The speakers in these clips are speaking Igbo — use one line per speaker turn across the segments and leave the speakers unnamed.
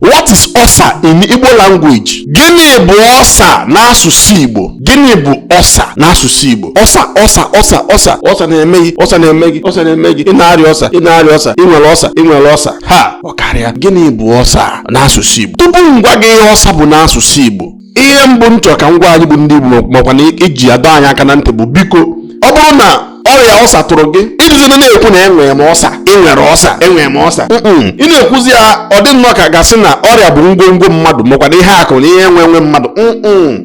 What is ọsa in Igbo language? Gịnị bụ ọsa n'asụsụ Igbo? Gịnị bụ ọsa n'asụsụ Igbo? Ọsa ọsa ọsa ọsa ọsa na-eme gị ọsa na-eme gị ọsa na-eme gị ị na-arịa ọsa ị na-arịa ọsa ị nwere ọsa ị nwere ọsa ha ọ karịa gịnị bụ ọsa n'asụsụ Igbo? Tupu m gwa gị ihe ọsa bụ n'asụsụ Igbo ihe mbụ m chọrọ ka m gwa anyị bụ ndị Igbo makwa na iji adọ anyị aka na ntị bụ biko ọ bụrụ na ọrịa ulcer tụrụ gị ịdịzina na-ekwu na enwere m ulcer enwere ulcer enwere m ulcer ị na-ekwuzi ya ọ dị nnọọ ka a ga-asị na ọrịa bụ ngwongwo mmadụ makwa na ihe akụ na ihe enwe enwe mmadụ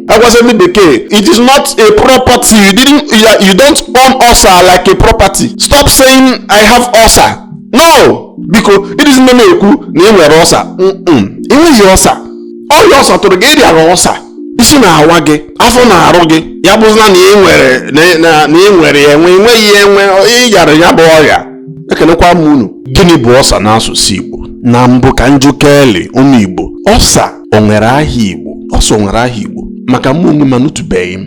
agwasị ndị bekee it is not a property you didn't you don't own ulcer like a property stop saying i have ulcer no biko ịdịzina na-ekwu na ị nwere ulcer ị nweghị ulcer ọrịa ulcer tụrụ gị ị rịagha ulcer isi na-awa gị afọ na-arụ gị ya bụzina na ị nwere na- na- na ị nwere ya enwe ị nweghị ya enwe ị yara ya bụ ọrịa ekenekwa m unu gịnị bụ ulcer n'asụsụ igbo na mbụ ka m jụkeli ụmụ igbo ulcer o nwere aha igbo ulcer o nwere aha igbo maka mụ onwe m anụtụbeghị m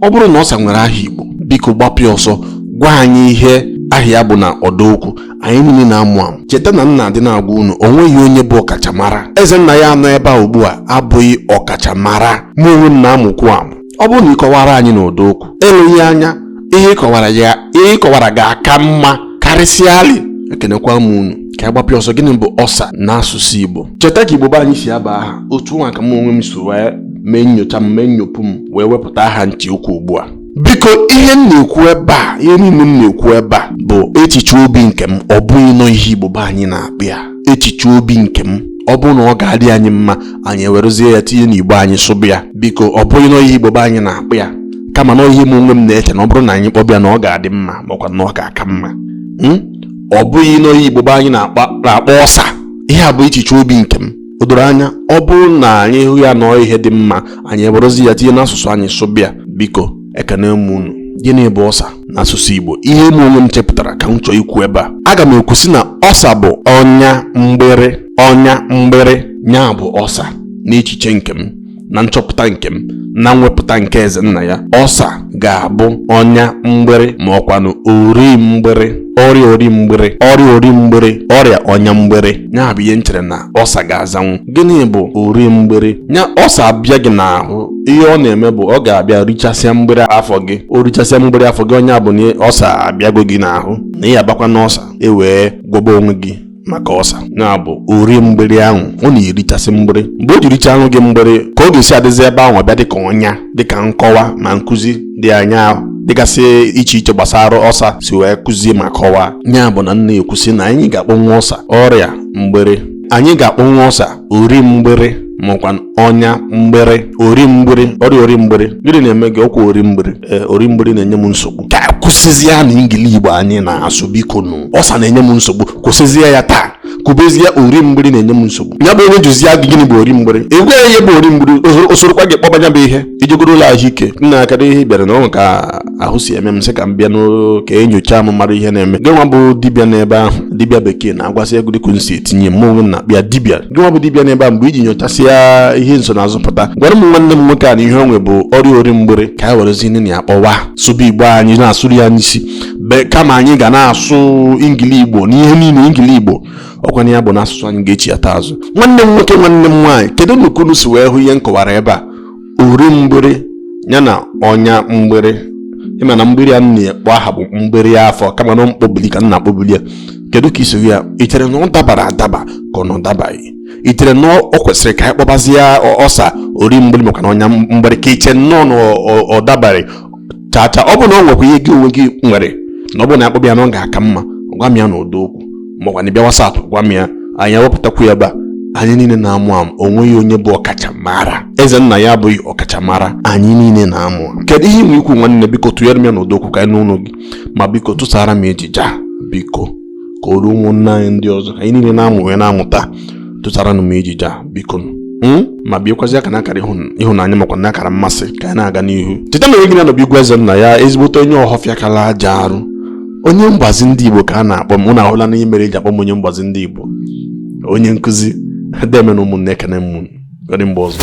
ọ bụrụ na ulcer nwere aha igbo biko gbapịa ọsọ gwa anyị ihe aha ya bụ na ọdaokwu anyị niile na-amụ amụ cheta na m na-adị na-agwa unu o nweghị onye bụ ọkachamara Ezennaya nọ ebe a ugbu a abụghị ọkachamara mụ onwe m na-amụkwu amụ ọ bụrụ na ị kọwara anyị n'ụdọ okwu eleghị anya ihe ị kọwara ya ihe ị kọwara ga-aka mma karịsịalị ekenekwa m unu ka a gbapịa ọsọ gịnị bụ ulcer n'asụsụ Igbo cheta ka Igbo be anyị si aba aha otu nwa ka m onwe m so wee mee nyocha m mee nyopụ m wee wepụta aha m chọọ ikwu ugbu a biko ihe m na-ekwu ebe a ihe niile m na-ekwu ebe a bụ echiche obi nke m ọ bụghị na ọ ihe igbo be anyị na-akpọ ya echiche obi nke m ọ bụrụ na ọ ga-adị anyị mma anyị ewerezie ya tinye n'igbo anyị sụba ya biko ọ bụghị na ọ ihe igbo be anyị na-akpọ ya kama na ihe m onwe m na-eche na ọ bụrụ na anyị kpọba ya na ọ ga-adị mma makwa na ọ ga-aka mma hmm? ọ bụghị na ọ ihe igbo be anyị na-akpọ ulcer ihe a bụ echiche obi nke m o doro anya ọ bụrụ na anyị hụ ya na ọ ihe dị mma anyị ewerezi ya tinye n'asụsụ anyị sụba ya biko ekene m unu gịnị bụ ulcer n'asụsụ Igbo ihe m onwe m chepụtara ka m chọọ ikwu ebe a aga m ekwu sị na ulcer bụ ọnya mgbịrị ọnya mgbịrị nya bụ ulcer n'echiche nke m na nchọpụta nke m na mwepụta nke Ezennaya ulcer ga-abụ ọnya mgbịrị ma ọ kwanụ ori mgbịrị ọrịa ori mgbịrị ọrịa ori mgbịrị ọrịa ọnya mgbịrị ya bụ ihe m chere na ulcer ga-azanwu gịnị bụ ori mgbịrị ya ulcer abịa gị n'ahụ ihe ọ na-eme bụ ọ ga-abịa richasịa mgbịrị afọ gị o richasịa mgbịrị afọ gị ọ nya bụ na ulcer abịago gị n'ahụ na ị abakwa n'ọsọ wee gwọba onwe gị maka ọsa ya bụ ori mgbịrị ahụ ọ na-erichasị mgbịrị mgbe o ji richanụ gị mgbịrị ka ọ ga-esi adịzi ebe ahụ bịa dịka ọnya dịka nkọwa ma nkụzi dị anya ahụ dịgasị iche iche gbasara ọsa si wee kụzie ma kọwaa ya bụ na m na-ekwusi na anyị ga-akpọnwu ọsa ọrịa mgbịrị anyị ga-akpọnwu ọsa ori mgbịrị makwa ọnya mgbiri ori mgbiri ọrịa ori mgbiri gịnị na-eme gị ọkwa ori mgbiri ee ori mgbiri na-enye m nsogbu ka a kwụsịzie na ingili igbo anyị na-asụ bikonụ ọsa na-enye m nsogbu kwụsịzie ya taa kwubezie ori mgbiri na-enye m nsogbu ya bụ onye jụzi gị gịnị bụ ori mgbiri ị gwa ya ihe bụ ori mgbiri o sorokwa gị kpọba ya bụ ihe i jegoro ụlọ ahụike na-akara ihe bịara na ọ bụ ka ahụ si eme m sị ka m bịa ka e nyochaa m mara ihe na-eme gịnwa bụ dibịa n'ebe ahụ dibịa bekee na-agwasị ego dịka m si etinye m onwe na bịa dibịa gịnwa bụ dibịa n'ebe a mgbe i ji nyochasịa ihe nsonaazụ pụta gwara m nwanne m nwoke a na ihe o nwe bụ ọrịa ori mgbiri ka e werezi nne na ya kpọwa sụba igbo anyị na-asụrụ ya n'isi kama anyị ga na-asụ ingili igbo n'ihe niile ingili igbo ọ kwa na ya bụ na asụsụ anyị ga-echighata azụ nwanne m nwoke nwanne m nwaanyị kedu ka unu si wee hụ ihe m kọwara ebe a ori mgbịrị ya na ọnya mgbịrị ị ma na mgbịrị a m na-akpọ aha bụ mgbịrị afọ kama na mkpọbili ka m na-akpọbili ya kedu ka i si hụ ya i chere na ọ dabara adaba ka ọ na ọ dabaghị i chere na o kwesịrị ka anyị kpọbazie ọsa ori mgbịrị maka na ọnya mgbịrị ka i che nnọọ na ọ dabaghị chacha ọ bụ na ọ nwekwa ihe gị onwe gị nwere na ọ bụ na a kpọba ya na ọ ga-aka mma gwa m ya n'ọdọ okwu makwanụ bịa WhatsApp gwa m ya anyị ewepụtakwu ya ebe a anyị niile na-amụ amụ o nweghị onye bụ ọkachamara Ezennaya abụghị ọkachamara anyị niile na-amụ amụ kedu ihe i nwe ikwu nwanne biko tụnyere m ya n'ọdọ okwu ka anyị nụ olu gị ma biko tụsara m ejije a biko ka o ruo ụmụnne anyị ndị ọzọ anyị niile na-amụ wee na-amụta tụtaranụ m ejije a biko hmm? ma biekwazi aka na akara ịhụnanya makwa na akara mmasị ka anyị na-aga n'ihu cheta na onye gị na ya nọ bụ igwe Ezennaya ezigbote onye ọhọfịa kala aja arụ onye mgbazi ndị igbo ka a na-akpọ m unu ahụla ihe mere e ji akpọ m onye mgbazi ndị igbo onye nkụzi deeme nụ ụmụnne ekene m unu ka ọ dị mgbe ọzọ